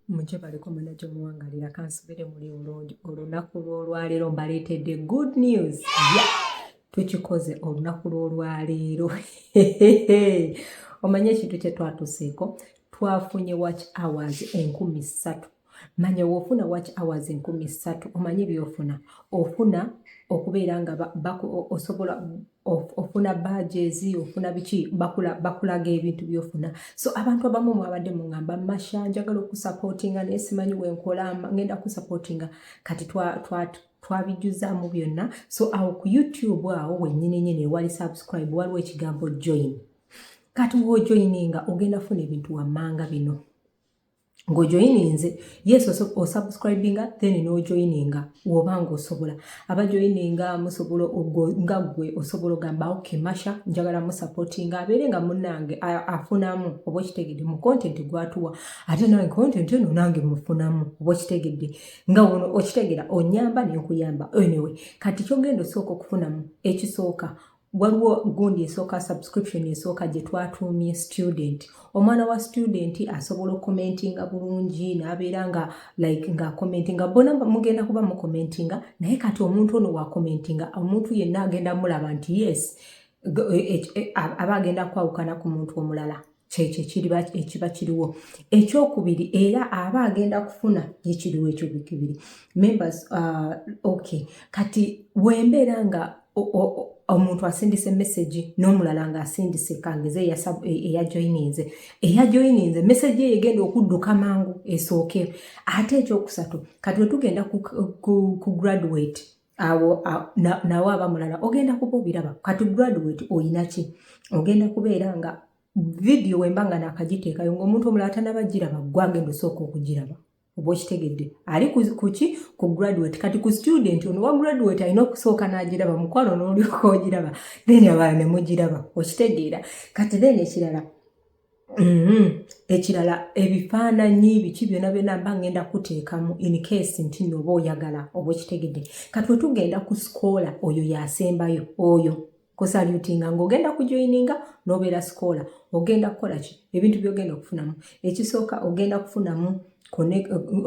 mujje baliko manaja omuwangalira kansubire muli bulungi olunaku lw'olwaleero mbaleetedde good news yeah! tukikoze olunaku lw'olwaleero omanye ekintu kye twatuseeko twafunye watch hours enkumi ssatu manya wofuna waki hours enkumi ssatu omanyi byofuna ofuna okubeera nga osobola ofuna bajezi ofuna biki bakulaga ebintu byofuna so abantu abamu mwabadde muŋamba masha njagala okusapotinga naye simanyi wenkola ngenda kusapotinga kati twabijuzaamu byonna so awo ku youtube awo wenyini nyini ewali subscribe waliwo ekigambo join kati wojoininga ogenda funa ebintu wammanga bino ng'ojoyininze yes osubscribinga then n'ojoyininga woba ng'osobola abajoyininga musobola nga gwe osobola ogamba ok masha njagala musupportinga abeere nga munange afunamu oba okitegedde mu content gwatuwa ate nange content eno nange mufunamu oba okitegedde nga wono okitegera onyamba nenkuyamba anyway kati kyogenda osooka okufunamu ekisooka waliwo gundi esooka subscription esooka gye twatuumye student omwana wa student asobola okukomentinga bulungi n'abeera nga like nga komentinga bona mugenda kuba mukomentinga naye kati omuntu ono wakomentinga omuntu yenna agenda mulaba nti yes e, e, e, aba agenda kwawukana ku muntu omulala kyekyo ekiriba ekiba kiriwo ekyokubiri era aba agenda kufuna ekiriwo ekyobikibiri members uh, ok kati wembeera nga omuntu asindise message n'omulala ng'asindise kangeze eyajoyininze e, eyajoyininze message eyo egenda okudduka mangu esooke ate ekyokusatu kati wetugenda ku, ku, ku graduate awo nawe aba mulala ogenda kuba obiraba kati graduate oyinaki ogenda kubeera nga vidiyo wemba nga nakagiteekayo ngaomuntu omulala tanaba giraba gwe agenda osooka okugiraba oba okitegedde ali kuki ku graduate kati ku student ono wa graduate alina okusooka n'agiraba mukwano n'olyoka ogiraba then abala ne mugiraba okitegeera kati then ekirala Mm-hmm. ekirala ebifaananyi biki byona byona mba ngenda kuteekamu incase nti nooba oyagala oba okitegedde katwe tugenda ku sikoola oyo yasembayo oyo kusalutinga ng'ogenda kujoyininga n'obeera sikoola ogenda kukola ki ebintu byogenda okufunamu ekisooka ogenda kufunamu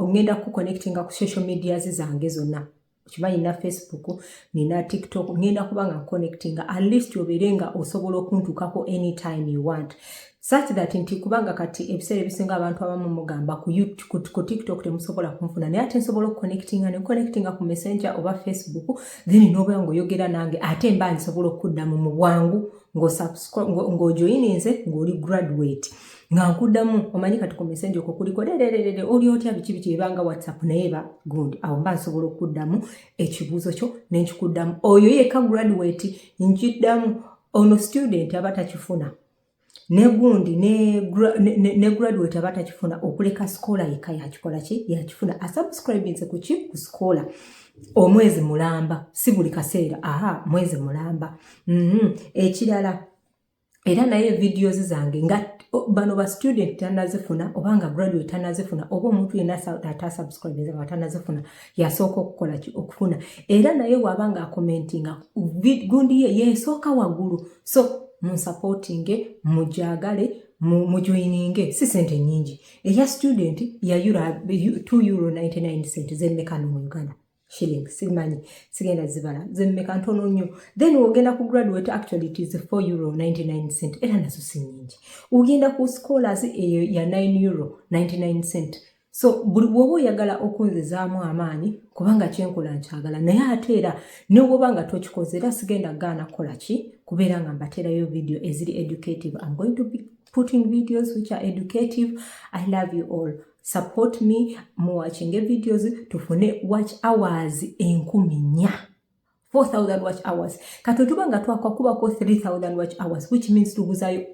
ogenda kukonectinga ku social medias zange zonna okimanyi na facebook nina tiktok ngenda kuba nga connectinga at least obeere nga osobola okuntuukako anytime you want such that nti kubanga kati ebiseera ebisinga abantu abamu mugamba ku tiktok temusobola kunfuna naye ate nsobola okuconnectinga ne connectinga ku messenger oba facebook then nobeera ngaoyogera nange ate mba nsobola okuddamu mu bwangu ng'ojoyininze ng'oli graduate nga nkuddamu omanyi kati ku mesenja okwo kuliko lereerere oli otya biki biki ebanga whatsapp naye ba good awo mba nsobola okuddamu ekibuuzo kyo nenkikuddamu oyo yeka graduate nkiddamu ono student aba takifuna negundi ne graduate aba takifuna okuleka sikola yeka yakikola ki yakifuna asubscribinse kuki ku sikola omwezi mulamba si buli kaseera aha mwezi mulamba mhm. ekirala mm -hmm. era naye videos zange nga bano ba student tanazifuna oba nga graduate tanazifuna oba omuntu yenna atasubscribinze nga tanazifuna yasooka okukola ki okufuna era naye waaba nga akomentinga gundi ye yesooka waggulu so munsupportinge mujagale mujoyininge si sente nyingi eya student ya 2 euro 99 cent zemmekano mu uganda shilling simanyi sigenda zibala zemmeka ntono nnyo then ogenda ku graduate actually it is 4 euro 99 cent era nazo si nyingi ogenda ku scholars eyo ya 9 euro 99 cent so buli bwoba oyagala okunzizaamu amaanyi kubanga kyenkola nkyagala naye ate era nebwoba nga tokikoze era sigenda gaana kukola ki kubeera nga mbateerayo video eziri educative am going to be putting videos which are educative i love you all support me muwachinge videos tufune watch hours enkumi nya 4000 watch hours kati tuba nga twakakubako 3000 watch hours which means tubuzayo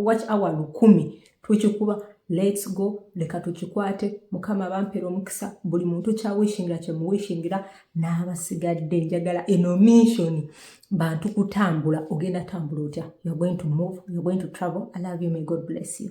watch hour lukumi tukikuba lets go leka tukikwate mukama bampera omukisa buli muntu kyawishingira kyemuwishingira n'abasigadde njagala eno missioni bantu kutambula ogenda tambula otya you're going to move you're going to travel i love you may god bless you